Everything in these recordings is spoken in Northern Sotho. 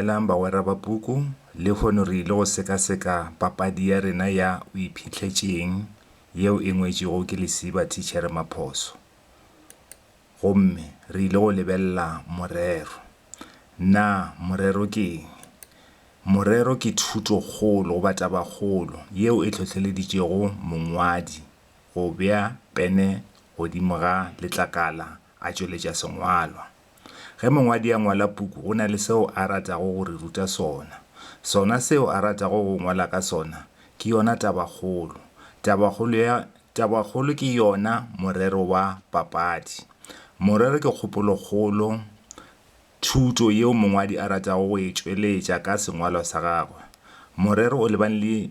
Dumelang bagwera ba puku, lehono re ile go sekaseka papadi ya rena ya O Iphihlets'eng yeo e ngwetšwego ke lesiba Thitšhere Maphoso. Gomme re ile go lebelela morero. Na morero ke eng? Morero ke thuto-kgolo goba taba-kgolo yeo e hlohleleditšego mongwadi go bea pene godimo ga letlakala a tšweletša sengwalwa. Ge mongwadi a ngwala puku go na le seo a ratago go re ruta sona. Sona seo a ratago go ngwala ka sona ke yona tabakgolo. Tabakgolo ya tabakgolo ke yona morero wa papadi. Morero ke kgopolokgolo, thuto yeo mongwadi a ratago go e tšweletša ka sengwalwa sa gagwe. Morero o lebane le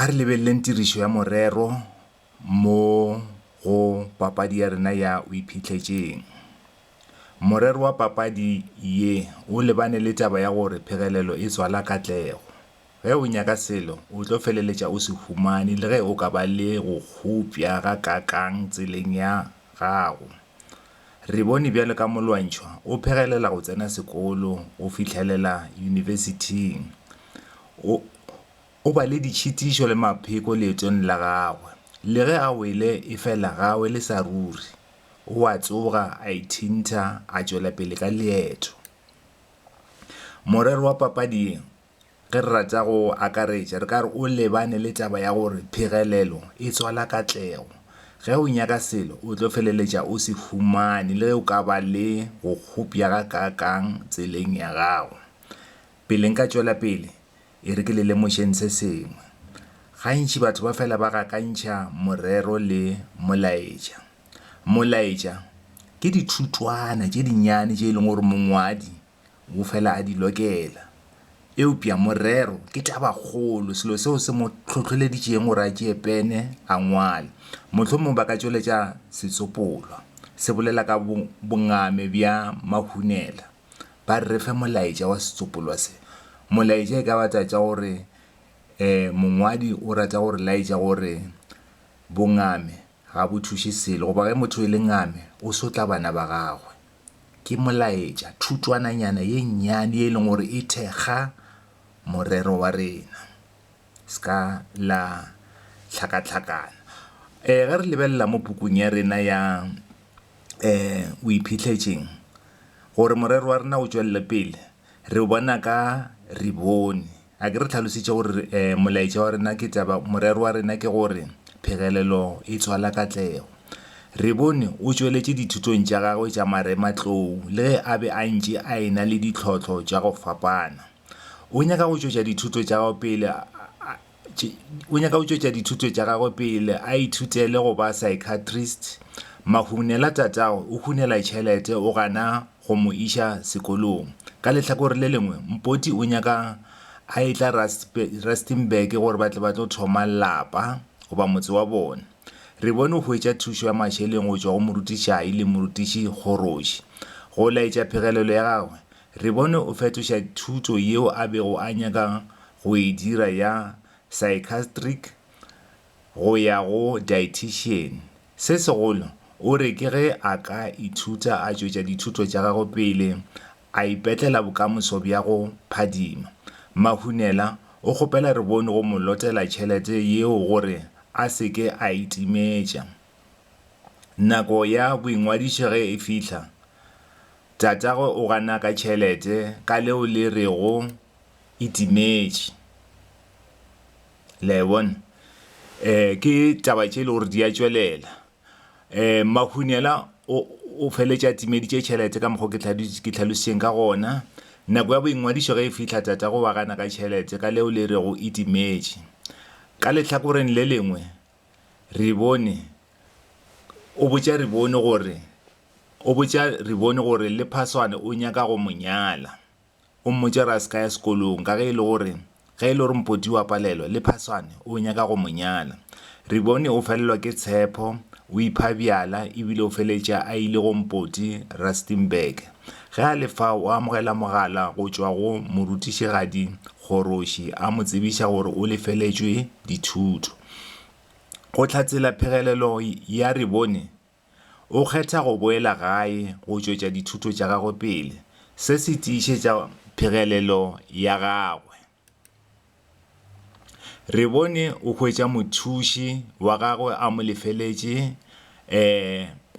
A re lebeleleng tirišo ya morero mo go papadi ya rena ya O Iphihletseng. Morero wa papadi ye o lebane le taba ya gore phegelelo e tswala katlego. Ge o nyaka selo, o tlo feleletša o se humane le ge o ka ba le go kgopša ga kakang tseleng ya gago. Re bone bjalo ka Molwantšhwa o phegelela go tsena sekolo go fihlelela yunibesithing. O, o ba le ditšhitišo le mapheko leetong la gagwe. Le ge a wele efela ga a wele sa ruri. O a tsoga, a ithintha, a tšwela pele ka leeto. Morero wa papadi ye Ge re rata go akaretša, re ka re o lebane le taba ya gore phegelelo e tswala katlego. Ge o nyaka selo, o tlo feleletša o se humane le ge o ka ba le go kgopša ga kaakang tseleng ya gago. Pele nka tšwela pele, e re ke le lemošeng se sengwe. Gantši batho ba fela ba gakantšha morero le molaetša. Molaetša ke dithutwana tše dinnyane tše e leng gore mongwadi Wo fela a di lokela. Eupša morero ke tabakgolo, selo seo se mo hlohleleditšeng gore a tšee pene a ngwale. Mohlomongwe ba ka tšweletša setsopolwa se bolela ka bongame bja mahunela, ba re fe molaetša wa setsopolwa se. Molaetša e ka ba taba tša gore mongwadi o rata go re laetša gore bongame ga bo thuše selo goba ge motho e le ngame o sotla bana ba gagwe. ke molaetša, thutwananyana ye nnyane ye e leng gore e thekga morero wa rena. Se ka la hlakahlakana. Eh, ge re lebelela mo pukung ya rena ya eh, o iphitlhetšeng, gore morero wa rena o tšwelele pele, Re bona ka re bone. A ke re tlhalositše gore molaetša wa rena ke taba, morero wa rena ke gore phegelelo e tswala katlego. Re bone o tšweletše dithutong tša gagwe tša marematlou le ge a be a ntše a e-na le ditlhohlo tša go fapana. O nyaka go tšwetša dithuto tša gagwe pele o nyaka go tšwetša dithuto tša gagwe pele a ithutele go ba psychiatrist mahunela tatago o hunela tšhelete o gana go mo iša sekolong ka lehlakore le lengwe mpoti o nyaka a etla rustenburg gore ba tle ba tlo thoma lapa goba motse wa bone re bone o hwetša thušo ya mašeleng go tšwa go morutišai le morutiši kgoroši go laetša phegelelo ya gagwe Re bone o fetoša thuto yeo a bego a nyaka go e dira ya Psychiatric go ya go Dietitian. Se segolo, o re ke ge a ka ithuta a tšwetša dithuto tša gagwe pele, a ipetlela bokamoso bja go phadima. Mahunela o kgopela re bone go mo lotela tšhelete yeo gore a se ke a itimetša. Nako ya boingwadišo ge e fihla, tatagwe o gana ka tšhelete ka leo le rego e timetše. Le a e bona? Um, ke taba tše e le gore di a tšwelela. Um, Mahunyela o, o feletše a timeditše tšhelete ka mokgwa o ke ke hlalošitšeng ka gona. Nako ya boingwadišo ge e fihla, tatagwe wa gana ka tšhelete ka leo le rego e timetše. Ka lehlakoreng le lengwe, Ribone, o botša Ribone gore, o botša Ribone gore le Phaswane o nyaka go mo nyala. O mmotša gore a se ka ya sekolong ka ge e le gore, ge e le gore Mpoti wa palelwa, le Phaswane o nyaka go mo nyala. Ribone o felelwa ke tshepho, o ipha bjala e bile o feletša a ile go Mpoti Rustenburg. Ge a le fao o amogela mogala go tšwa go morutišigadi Kgoroši a mo tsebiša gore o lefeletšwe dithuto. Go hlatsela phegelelo ya Rebone, o kgetha go boela gae go tšwetša dithuto tša gagwe pele. Se se tiišetša phegelelo ya gagwe. Rebone o hwetša mothuši wa gagwe a mo lefeletše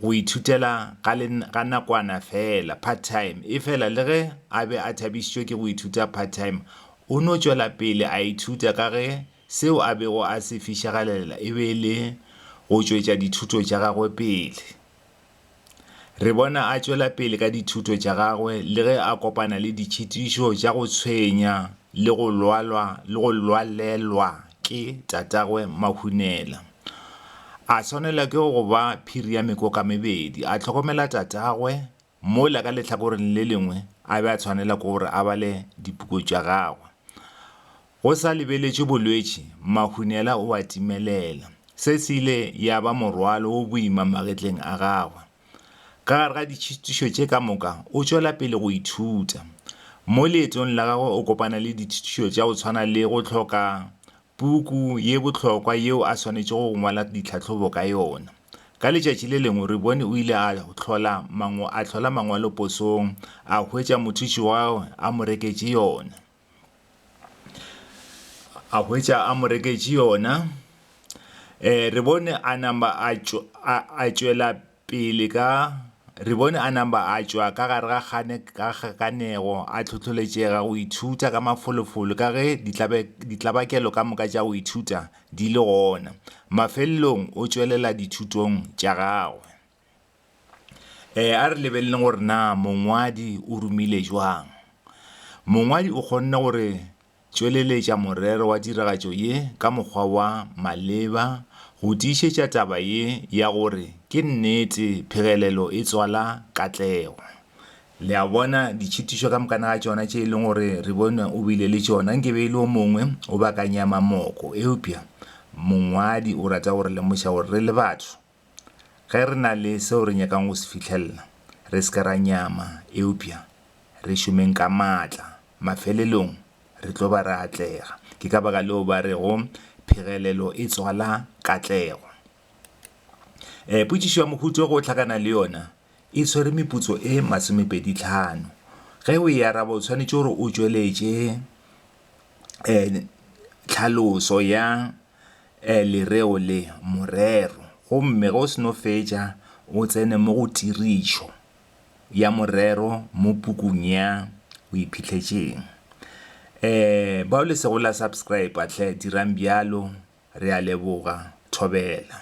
go ithutela ga nakwana feela, part-time. Efela le ge a be a thabišitšwe ke go ithuta part-time, o no tšwela pele a ithuta ka ge Seo a bego a se fišegelela e be e le go tšwetša dithuto tša gagwe pele. Re bona a tšwela pele ka dithuto tša gagwe le ge a kopana le ditšhitišo tša go tshwenya le go lwalwa le go lwalelwa ke tatagwe Mahunela. A swanelwa ke go ba phiri ya mekoka mebedi, a hlokomela tatagwe Mola ka lehlakoreng le lengwe a be a tshwanela ke gore a bale dipuku tša gagwe. Go sa lebeletšwe bolwetši, Mahunela o a timelela. Se se ile ya ba morwalo o boima magetleng a gagwe. Ka gare ga ditšhitišo tše ka moka, o tšwela pele go ithuta. Mo leetong la gagwe o kopana le ditšhitišo tša go tshwana le go hloka puku ye bohlokwa yeo a swanetšego go ngwala ditlhahlobo ka yona. Ka letšatši le lengwe Rebone o ile a hlola mangw a hlola mangwalo posong, a hwetša mothuši wa gagwe a mo reketše yona. A hwetša a mo reketše yona. Rebone a namba a tšw a a tšwela Pele ka, re bone a namba a tšwa ka gare ga kgane ka kgakanego, a tlhohloletšega go ithuta ka mafolofolo ka ge ditlabakelo ka moka tša go ithuta di le gona. Mafelelong o tšwelela dithutong tša gagwe. Ee, a re lebeleleng gore na mongwadi o rumile bjang. Mongwadi o kgonne gore. tšweleletša morero wa tiragatšo ye ka mokgwa wa maleba go tiišetša taba ye ya gore ke nnete phegelelo e tswala katlego. Le a bona, ditšhitišo ka mokana ga tšona tše e leng gore re bone o bile le tšona, nke be e le o mongwe o bakanya mamoko. Eupša mongwadi o rata go re lemoša gore re le batho, Ge re na le seo re nyakang go se fihlelela, re se ke ra nyama, eupša re šomeng ka matla. Mafelelong re tlo ba re atlega. Ke ka baka leo ba rego phegelelo e tswala katlego. E, potšišo ya mohuta o go hlakana le yona e swere meputso e masomepedi tlhano. Ge o e araba, o swanetše gore o tšweletše e tlhaloso ya Ee, lereo le, morero. Gomme ge o seno fetša, o tsene mo go tirišo ya morero mo pukung ya Go Iphihletšeng. Ee, bao le sego la subscriber, hle dirang bjalo. Re a leboga. Thobela.